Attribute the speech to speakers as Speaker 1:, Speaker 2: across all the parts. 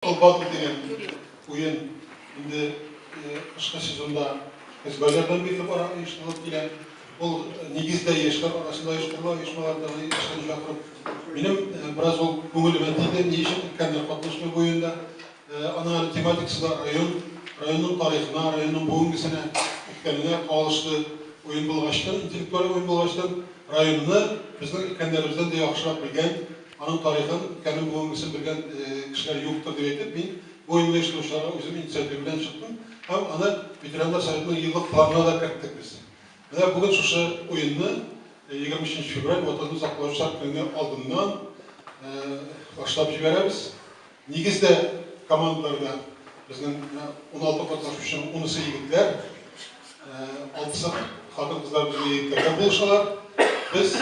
Speaker 1: Ул батыр дигән уен инде кышкы сезонда Азербайҗаннан бирле бара, оештырылып килә. Ул нигездә яшьләр арасында оештырыла, оешмалардагы яшьләрне чакырып. Минем бераз ул күңелемә тиде, ни өчен өлкәннәр катнашмый бу уенда. Аның әле тематикасы да район, районның тарихына, районның бүгенгесенә, үткәненә кагылышлы уен булгачтын, интеллектуаль уен булгачтын, районны безнең өлкәннәребездән дә яхшырак белгән, Аның тарихын, үткәнен, бүгенгесен белгән кешеләр юктыр дип әйтеп, мин бу уенны оештыручыларга үзем инициатив белән чыктым һәм аны Ветераннар советының еллык планына да керттек без. Менә бүген шушы уенны 23 февраль Ватанны саклаучылар көне алдыннан башлап җибәрәбез. Нигездә командаларда безнең уналты катнашучының унысы егетләр, алтысы хатын-кызлар белән егетләрдән булышалар. Без,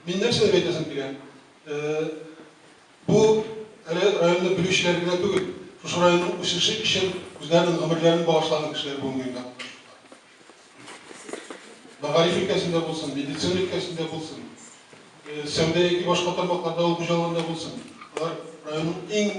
Speaker 1: мин нәрсә дип әйтәсем килә, бу әле районны белүчеләр генә түгел, шушы районның үсеше өчен үзләренең гомерләрен багышлаган кешеләр бүгенге көндә катнашучылар. Мәгариф өлкәсендә булсын, медицина өлкәсендә булсын, сәүдә яки башка тармакларда авыл хуҗалыгында булсын, алар районның иң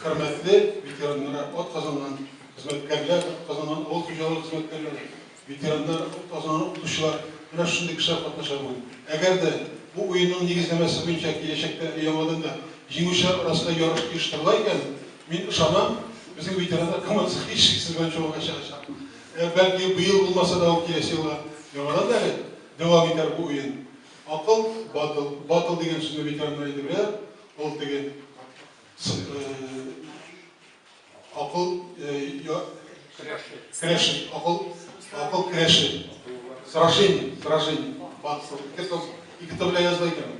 Speaker 1: хөрмәтле ветераннары, ат казанган хезмәткәрләр, казанган авыл хуҗалыгы хезмәткәрләре, ветераннар, ат казанган укытучылар, менә шундый кешеләр катнаша бүген. Әгәр дә бу уенның нигезләмәсе буенча киләчәктә яңадан да җиңүчеләр арасында ярыш оештырыла икән, мин ышанам, безнең ветераннар командасы һичшиксез беренче урынга чыгачак. Ә бәлки быел булмаса да ул киләсе елга яңадан да әле дәвам итәр бу уен. Акыл батыл, батыл дигән сүзне ветераннар инде беләләр, ул теге акыл көрәше, акыл акыл көрәше, сражение, сражение, ике томга языла икән ул.